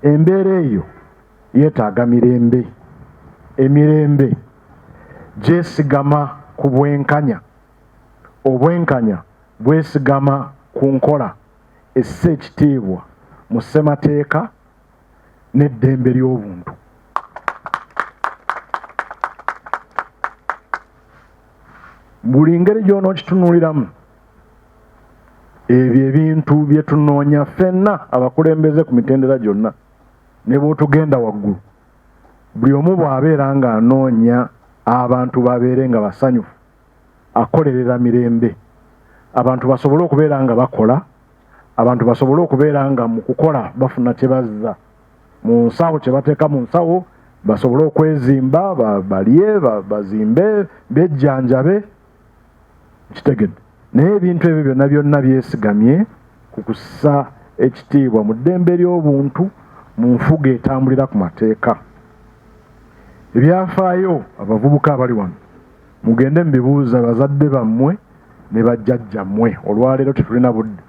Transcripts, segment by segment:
Embeera eyo yeetaaga mirembe. Emirembe gyesigama ku bwenkanya, obwenkanya bwesigama ku nkola essa ekitiibwa mu ssemateeka n'eddembe ly'obuntu. Buli ngeri gy'onookitunuliramu ebyo ebintu bye tunoonya ffenna abakulembeze ku mitendera gyonna ne bw'otugenda waggulu buli omu bw'abeera ng'anoonya abantu babeere nga basanyufu akolerera mirembe abantu basobole okubeera nga bakola abantu basobole okubeera nga mu kukola bafuna kye bazza mu nsawo kye bateeka mu nsawo basobole okwezimba balye bazimbe bejjanjabe kitegedde naye ebintu ebyo byonna byonna byesigamye ku kussa ekitiibwa mu ddembe ly'obuntu mu nfuga etambulira ku mateeka ebyafaayo abavubuka abali wano mugende mubibuuza bazadde bammwe ne bajjajjammwe olwaleero tetulina budde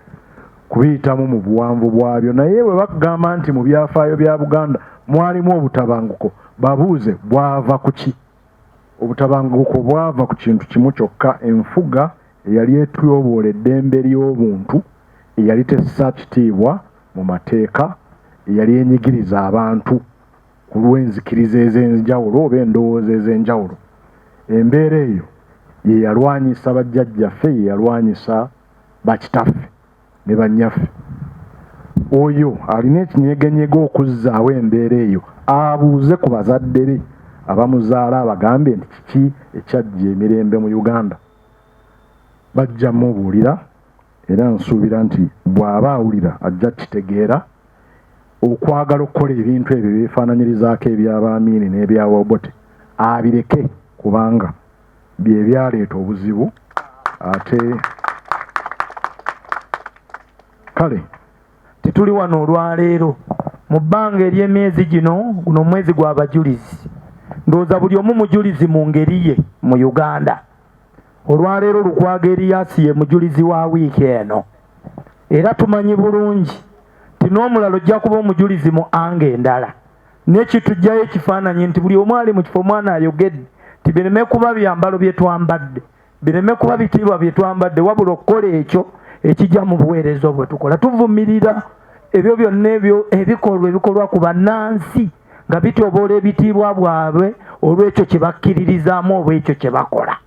kubiyitamu mu buwanvu bwabyo naye bwe bakugamba nti mu byafaayo bya buganda mwalimu obutabanguko babuuze bwava ku ki Obutabanguko bwava ku kintu kimu kyokka, enfuga eyali etyoboola eddembe ly'obuntu, eyali tessa kitiibwa mu mateeka, eyali enyigiriza abantu ku lw'enzikiriza ez'enjawulo oba endowooza ez'enjawulo. Embeera eyo ye yalwanyisa bajjajjaffe, ye yalwanyisa bakitaffe. ne bannyaffe oyo alina ekinyegenyege okuzzaawo embeera eyo abuuze ku bazadde be abamuzaala abagambe nti kiki ekyajja emirembe mu uganda bajja mubuulira era nsuubira nti bw'aba awulira ajja kitegeera okwagala okukola ebintu ebyo byefaananyirizaako eby'abaamiini n'ebyawabote abireke kubanga bye byaleeta obuzibu ate kale tetuli wano olwaleero mu bbanga ery'emyezi gino guno omwezi gw'abajulizi ndowooza buli omu mujulizi mu ngeri ye mu uganda olwaleero lukwaga eriyasi ye mujulizi wa wiiki eno era tumanyi bulungi ti n'omulala ojja kuba omujulizi mu anga endala nekitujjayo ekifaananyi nti buli omu ali mu kifo omwana ayogedde nti bireme kuba byambalo bye twambadde bireme kuba bitiibwa bye twambadde wabula okukola ekyo ekijja mu buweereza obwe tukola tuvumirira ebyo byonna ebyo ebikolwa ebikolwa ku bannansi nga bityoboola ebitiibwa bwabwe olw'ekyo kye bakkiririzaamu oba ekyo kye bakola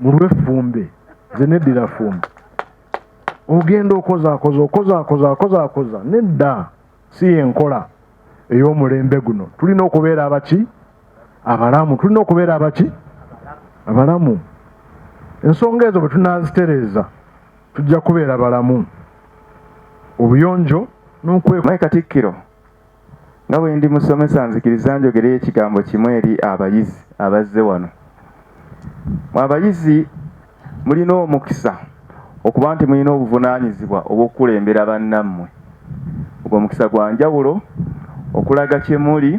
mulwe fumbe nze neddira fumbe ogenda okozaakoza okozaakoza akozaakoza nedda si yenkola ey'omulembe guno tulina okubeera abaki abalamu tulina okubeera abaki abalamu ensonga ezo bwe tunaazitereeza tujja kubeera balamu obuyonjo n'okwekatikkiro nga bwe ndi musomesa nzikiriza njogere ekigambo kimu eri abayizi abazze wano mu abayizi mulina omukisa okuba nti mulina obuvunaanyizibwa obw'okukulembera bannammwe ogwo omukisa gwa njawulo okulaga kye muli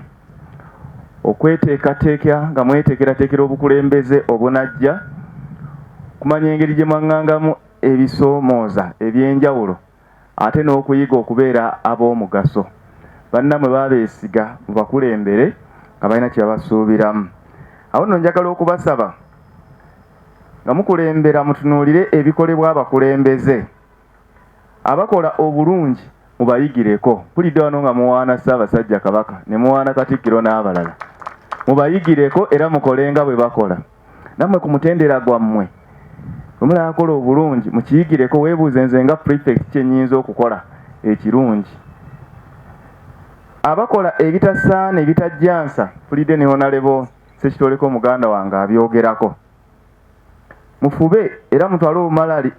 okweteekateeka nga mweteekerateekera obukulembeze obunajja kumanya engeri gye mwaŋŋangamu ebisoomooza eby'enjawulo ate n'okuyiga okubeera ab'omugaso bannamwe babeesiga mubakulembere nga balina kyebabasuubiramu awo nno njagala okubasaba nga mukulembera mutunuulire ebikolebwa abakulembeze abakola obulungi mubayigireko mpulidde wano nga muwaana ssaabasajja kabaka ne muwaana katikkiro n'abalala mubayigireko era mukole nga bwe bakola nammwe ku mutendera gwammwe omulakola obulungi mukiyigireko weebuuze nze nga prefect kyenyinza okukola ekirungi abakola ebitasaana ebitajjansa fulidde ne honalebo sekitoleko muganda wange abyogerako mufube era mutwale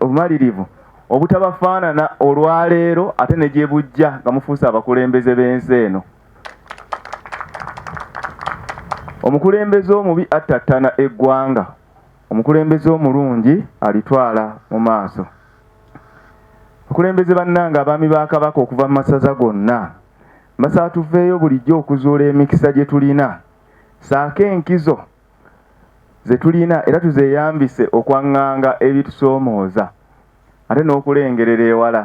obumalirivu obutabafaanana olwaleero ate ne gye bujja nga mufuuse abakulembeze b'ensi eno omukulembeze omubi attattana eggwanga omukulembeze omulungi alitwala mu maaso okulembeze bannanga abaami ba kabaka okuva mu masaza gonna mbasaba tuveeyo bulijjo okuzuula emikisa gye tulina saako enkizo ze tulina era tuzeeyambise okwaŋŋanga ebitusoomooza ate n'okulengerera ewala.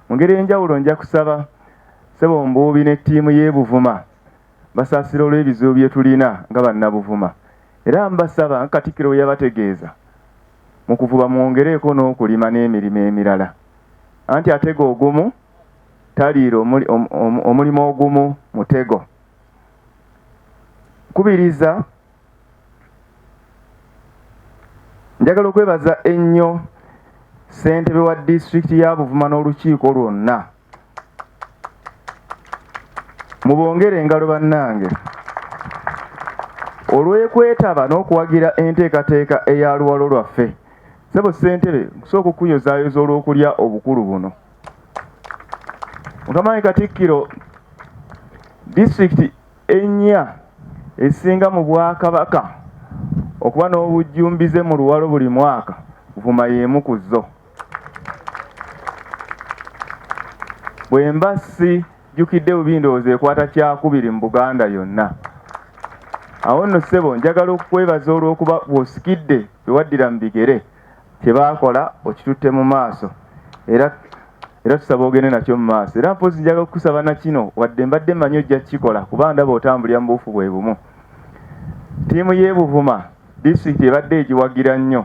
Mu ngeri enjawulo nja kusaba Ssebo Mbuubi ne ttiimu y'e Buvuma basaasire olw'ebizibu bye tulina nga Bannabuvuma era mbasaba nga Katikkiro bwe yabategeeza mu kuvuba mwongereeko n'okulima n'emirimo emirala anti atega ogumu taliira omulimu ogumu mutego. kubiriza njagala okwebaza ennyo ssentebe wa disitulikiti ya buvuma n'olukiiko lwonna mubongere engalo bannange olw'ekwetaba n'okuwagira enteekateeka eya luwalo lwaffe sebo ssentebe kusooka okukuyozaayoza olw'okulya obukulu buno Mukama Katikkiro disitulikiti ennya esinga mu bwakabaka okuba n'obujjumbize mu luwalo buli mwaka vuma y'emu ku zo bwe mba si jjukidde bubi ndowooza ekwata kyakubiri mu buganda yonna awo nno ssebo njagala okukwebaza olw'okuba bw'osikidde bewaddira mu bigere kye baakola okitutte mu maaso era era tusaba ogende nakyo mu maaso era mpozi njaga okukusaba na kino wadde mbadde manyi ojja kukikola kuba ndaba otambulira mu buufu bwe bumu ttiimu y'ebuvuma disitulikiti ebadde egiwagira nnyo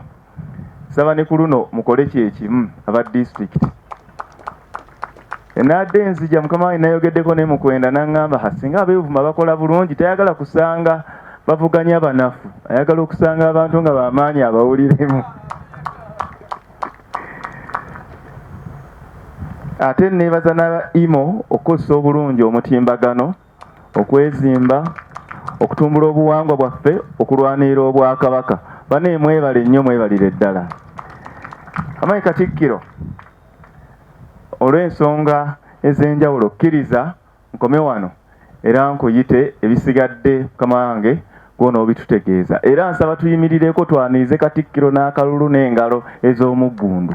saba ne ku luno mukole kyekimu aba disitulikiti Enadde enzija mukama wange nayogeddeko ne mukwenda nangamba ha singa abevuma bakola bulungi tayagala kusanga bavuganya banafu ayagala okusanga abantu nga bamaanyi abawuliremu ate nebaza na imo okukozesa obulungi omutimbagano okwezimba okutumbula obuwangwa bwaffe okulwanirira obwakabaka bane mwebale nnyo mwebalire ddala amayi katikkiro olw'ensonga ez'enjawulo kkiriza nkome wano era nkuyite ebisigadde mukama wange gwona obitutegeeza era nsaba tuyimirireko twanirize katikkiro n'akalulu n'engalo ez'omuggundu